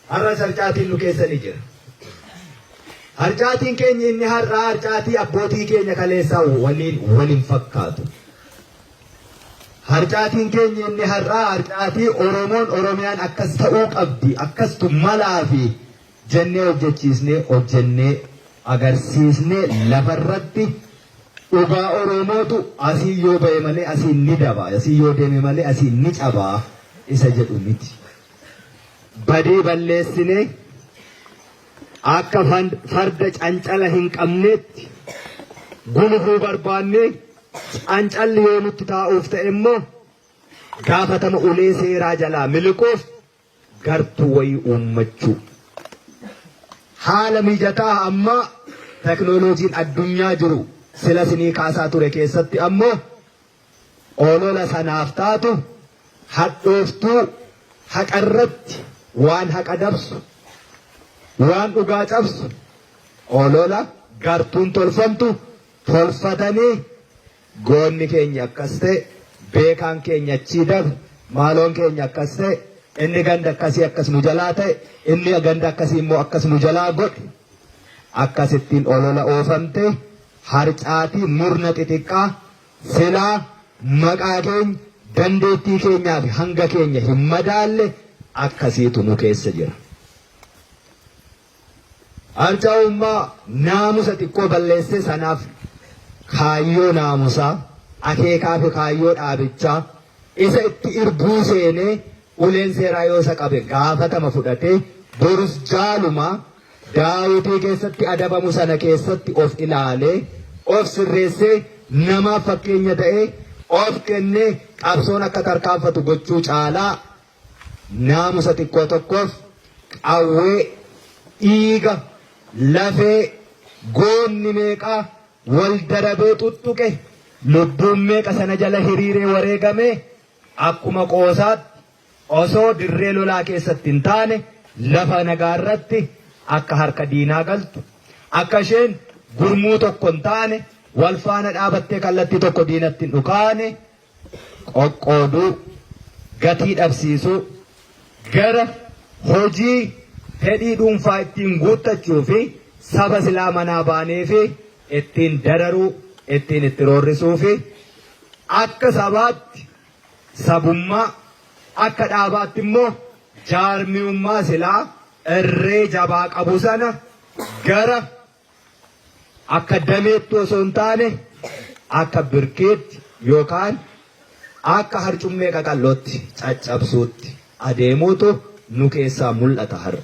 Har'as harcaatiin nu keessa ni jira. Harcaatiin keenya inni har'aa harcaatii abbootii keenya kaleessaa waliin wal hin fakkaatu. Harcaatiin keenya inni har'aa harcaatii Oromoon Oromiyaan akkas ta'uu qabdi akkastu malaa fi jennee hojjechiisnee hojjennee agarsiisnee lafarratti dhugaa Oromootu asii yoo ba'e malee asii ni daba asii yoo deeme malee asii ni cabaa isa jedhu miti. badii balleessinee akka farda cancala hin qabneetti gulufuu barbaannee cancalli yoo nutti taa'uuf ta'e immoo gaafatama ulee seeraa jalaa miliquuf gartuu wayii uummachuu. Haala mijataa ammaa teknooloojiin addunyaa jiru sila sinii kaasaa ture keessatti ammoo Olola sanaaf taatu hadhooftuu haqarratti waan haqa dabsu, waan dhugaa cabsu olola gartuun tolfamtu tolfatanii goonni keenya akkas ta'e, beekaan keenya achii dabre, maaloon keenya akkas ta'e, inni ganda akkasii akkas nu jalaa ta'e, inni ganda akkasii immoo akkas nu jalaa godhe. Akkasittiin olola oofamte harcaatii murna xixiqqaa Silaa maqaa keenya, dandeettii keenyaa fi hanga keenya hin madaalle akkasiitu nu keessa jira. Harca'ummaa naamusa xiqqoo balleesse sanaaf kaayyoo naamusaa, akeekaa fi kaayyoo dhaabichaa isa itti irbuu seenee uleen seeraa yoo isa qabe gaafatama fudhatee borus jaalumaa Daawitii keessatti adabamu sana keessatti of ilaalee, of sirreessee, namaaf fakkeenya ta'ee, of kennee qabsoon akka tarkaanfatu gochuu caalaa naamusa xiqqoo tokkoof qawwee, dhiiga, lafee, goonni meeqaa wal darabee xuxxuqe, lubbuun meeqa sana jala hiriiree wareegamee akkuma qoosaatti Osoo dirree lolaa keessatti hin taane lafa nagaa irratti akka harka diinaa galtu, akka isheen gurmuu tokko hin taane wal faana dhaabattee kallattii tokko diinatti hin dhukaane qoqqooduu, gatii dhabsiisuu, gara hojii fedhii dhuunfaa ittiin guuttachuu fi saba silaa manaa baanee fi ittiin dararuu, ittiin itti roorrisuu fi akka sabaatti sabummaa, akka dhaabaatti immoo jaarmiyummaa silaa irree jabaa qabu sana gara akka dameetti osoo hin taane akka birkeetti yookaan akka harcummee qaqallootti caccabsuutti adeemuutu nu keessaa mul'ata har'a.